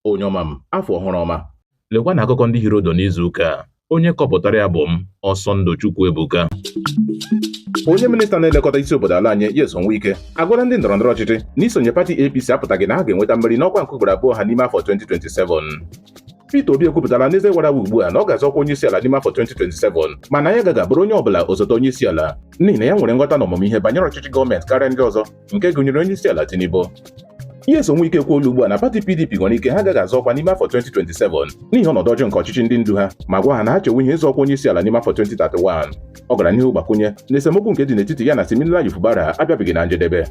onye ọma m afọ ọhụrụ ọma lekwa na akụkọ ndị hiri ụdụ n'izu ụka a onye kọpụtara ya bụ m Ọsọndụ Chukwuebuka onye minista na-elekọta isi obodo ala anyị Nyesom Wike agwala ndị ndọrọ ndọrọ ọchịchị na isonye pati APC apụtaghị na ha ga-enweta mmeri n'ọkwa nke ugboro abụọ ha n'ime afọ 2027 Peter Obi ekwupụtala n'eze wara awa ugbu a na ọ ga-azọ ọkwa onyeisiala n'ime afọ 2027 mana ya agaghị abụrụ onye ọbụla osote onyeisiala n'ihi na ya nwere nghọta na ọmụmụ ihe banyere ọchịchị gọọmenti karịa ndị ọzọ nke gụnyere onye isi ala Tinubu Nyesom Wike ekwuola ugbu a na pati PDP nwere ike ha agaghị azọ ọkwa n'ime afọ 2027 n'ihi ọnọdụ ọjọọ nke ọchịchị ndị ndu ha ma gwa ha na ha chewe ihe ịzọ ọkwa onye isi ala n'ime afọ 2031 ọ gara n'ihu gbakwunye na esemokwu nke dị n'etiti ya na Siminalayi Fubara abịabeghị na njedebe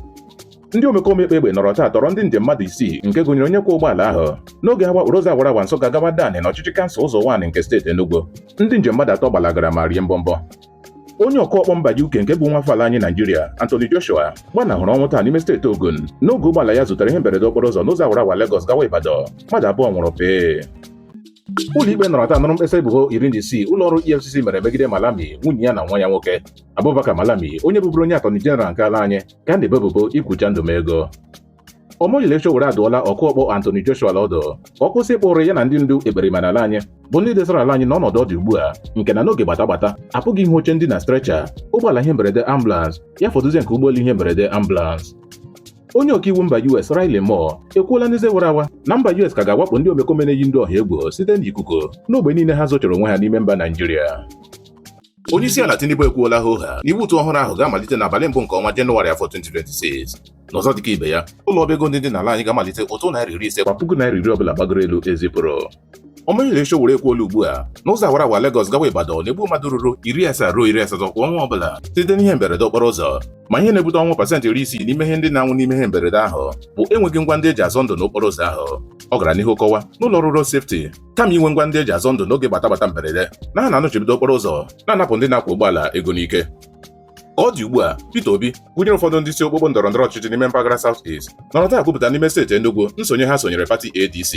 ndị omekome kpa egbe nọrọ taa tọrọ ndị njem mmadụ isii nke gụnyere onye kwọ ụgbọala ahụ n'oge ha wakporo ụzọ awara awa Nsụka gawa Adani na ọchịchị kansụl Uzo-Uwani nke steeti Enugu ndị njem mmadụ atọ gbalagara ma rie mbọmbọ onye ọkụ ọkpọ mba UK nke bụ nwafọ ala anyị Naijiria Anthony Joshua gbanahụrụ ọnwụ taa n'ime steeti Ogun n'oge ụgbọala ya zutere ihe mberede okporo ụzọ n'ụzọ awara awa Lagos gawa Ibadan mmadụ abụọ nwụrụ pịị ụlọikpe nọrọ taa nụrụ mkpesa ebubo iri na isii ụlọ ọrụ EFCC mere megide Malami nwunye ya na nwa ya nwoke Abubakar Malami onye bụburu onye atọni jeneral nke ala anyị ka a na-ebo ebubo ikwucha ndụ m ego Omoyele Sowore adụọla ọkụ ọkpọ Anthony Joshua ọdụ ka ọ kwụsị ịkpa ụrụ ya na ndị ndu ekperima n'ala anyị bụ ndị desara ala anyị n'ọnọdụ ọ dị ugbu a nke na n'oge gbata gbata apụghị ịhụ oche ndina strecha ụgbọala ihe mberede ambulans ya fọdụzie nke ụgbọelu ihe mberede ambulans onye ọkaiwu mba US Riley Moore ekwuola n'eze wara awa na mba US ka ga-awakpo ndị omekome na-eyi ndị ọha egwu site n'ikuku n'ogbe niile ha zochara onwe ha n'ime mba Naijiria Onyeisiala Tinubu ekwuola hoohaa na iwu ụtụ ọhụrụ ahụ ga-amalite n'abalị mbụ nke ọnwa Jenụwarị afọ 2026. N'ọzọ dịka ibe ya, ụlọ ọba ego ndị dị n'ala anyị ga-amalite ụtụ naira iri ise kwa puku naira iri ọbụla gbagoro elu ezipụrụ. Omoyele Sowore ekwuola ugbu a na ụzọ awara awa Lagos gawa Ibadan na-egbu mmadụ ruru iri asaa ruo iri asatọ kwa ọnwa ọbụla site n'ihe mberede okporo ụzọ ma ihe na-ebute ọnwụ pasentị iri isii n'ime ihe ndị na-anwụ n'ime ihe mberede ahụ bụ enweghị ngwa ndị eji azọ ndụ n'okporo ụzọ ahụ ọ gara n'ihu kọwa na ụlọ ọrụ road safety kama inwe ngwa ndị eji azọ ndụ n'oge gbatagbata mberede na ha na-anọchibido okporo ụzọ na-anapụ ndị na-akwọ ụgbọala ego n'ike ka ọ dị ugbu a Peter Obi gụnyere ụfọdụ ndị isi okpukpo ndọrọ ndọrọ ọchịchị n'ime mpaghara South East nọrọ taa kwupụta n'ime steeti Enugu nsonye ha sonyere pati ADC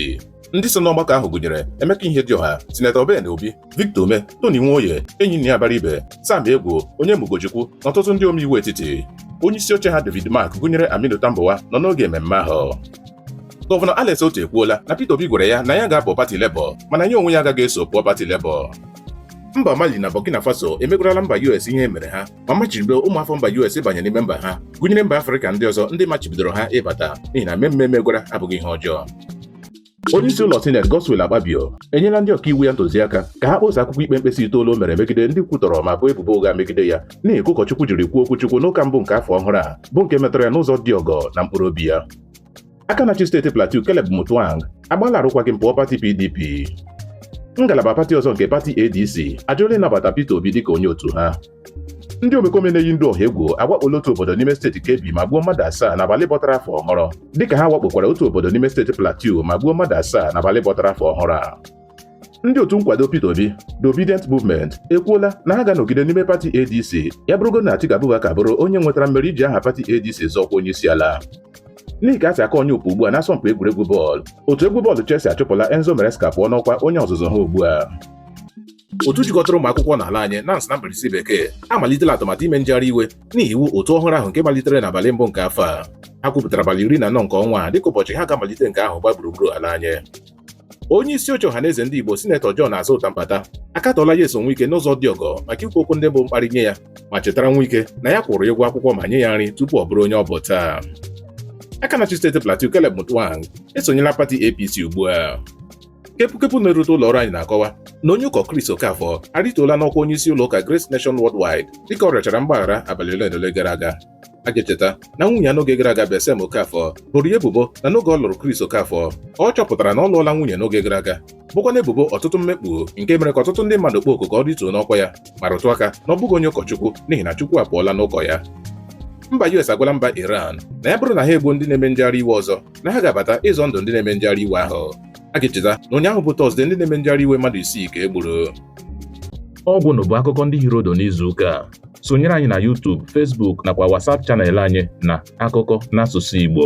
ndị so n'ọgbakọ ahụ gụnyere Emeka Ihedioha Sinetọ Ben Obi Victor Umeh Tony Nwoye Enyinnaya Abaribe Sam Egwu Onyema Ugochukwu na ọtụtụ ndị omeiwu etiti onye isi oche ha David Mark gụnyere Aminu Tambuwal nọ n'oge mmemme ahụ Gọvanọ Alex Otti ekwuola na Peter Obi gwara ya na ya ga-apụ pati Labour mana ya onwe ya agaghị eso pụọ pati Labour. Mba Mali na Burkina Faso emegwarala mba US ihe mere ha ma machibido ụmụafọ mba US ịbanye n'ime mba ha gụnyere mba Afrịka ndị ọzọ ndị machibidoro ha ịbata n'ihi na emee m emegwara abụghị ihe ọjọọ onye isi ụlọ sineti Godswill Akpabio enyela ndị ọkaiwu ya ntụziaka ka ha kpọsa akwụkwọ ikpe mkpesa itoolu o mere megide ndị kwutọrọ ma boo ebubo ụgha megide ya n'ihi ka ụkọchukwu jiri kwuo okwuchukwu n'ụka mbụ nke afọ ọhụrụ a bụ nke metara ya n'ụzọ dị ọgọ na mkpụrụ obi ya aka na-achị steeti Plateau Caleb Mutwang agbaala arụkwaghịm pụọ pati PDP ngalaba pati ọzọ nke pati ADC ajụọla ịnabata Peter Obi dịka onye otu ha ndị omekome na-eyi ndụ ọha egwu awakpola otu obodo n'ime steeti Kebbi ma gbuo mmadụ asaa n'abalị bọtara afọ ọhụrụ dịka ha wakpokwara otu obodo n'ime steeti Plateau ma gbuo mmadụ asaa n'abalị bọtara afọ ọhụrụ a ndị otu nkwado Peter Obi The Obidient Movement ekwuola na ha ga-anọgide n'ime pati ADC ya bụrụgodị na Atiku Abubakar bụrụ onye nwetara mmeri iji aha pati ADC zọọ ọkwa onye isi ala n'ihi ka a si aka onye okpu ugbu a n'asọmpi egwuregwu bọọlụ otu egwu bọọlụ Chelsea achụpụla Enzo Maresca pụọ n'ọkwa onye ọzụzụ ha ugbu a otu jikọtara ụmụ akwụkwọ n'ala anyị NANS na mkpirisi bekee amalitela atụmatụ ime njegharị iwe n'ihi iwu ụtụ ọhụrụ ahụ nke malitere n'abalị mbụ nke afọ a ha kwupụtara abalị iri na anọ nke ọnwa a dịka ụbọchị ha ga-amalite nke ahụ gbaa gburugburu ala anyị onye isi oche ọhaneze ndị Igbo sinetọ John Azụta Mbata akatọọla Nyesom Nwike n'ụzọ dị ọgọ maka ikwu okwu ndị bụ mkparị nye ya ma chetara Nwike na ya kwụrụ ụgwọ akwụkwọ ma nye ya nri tupu ọ bụrụ onye ọ bụ taa aka na-achị steeti Plateau Caleb Mutwang esonyela pati APC ugbu a kepụkepụ na-erute ụlọ ọrụ anyị na-akọwa na onye ụkọ Chris Okafor arịtuola n'ọkwa onye isi ụlọ ụka Grace Nation Worldwide dịka ọ rịọchara mgbaghara abalị ole na ole gara aga a ga-echeta na nwunye ya n'oge gara aga Bessem Okafọ boro ya ebubo na n'oge ọ lụrụ Chris Okafọ ọ chọpụtara na ọ lụọla nwunye n'oge gara aga bụkwa na ebubo ọtụtụ mmekpu nke mere ka ọtụtụ ndị mmadụ kpọọ oku ka ọ rịtuo n'ọkwa ya ma rụtụ aka na ọ bụghị onye ụkọchukwu n'ihi na Chukwu apụọla n'ụkọ ya mba US agwala mba Iran na ya bụrụ na ha egbuo ndị na-eme njegharị iwe ọzọ na ha ga-abata ịzọ ndụ ndị na-eme njegharị iwe ahụ a ga-echeta na ụnyaahụ bụ Tọzdee ndị na-eme njegharị iwe mmadụ isii ka e gburu ọgwụnụ bụ akụkọ ndị hiri ụdụ n'izuụka a sonyere anyị na YouTube Facebook nakwa WhatsApp chanel anyị na akụkọ n'asụsụ Igbo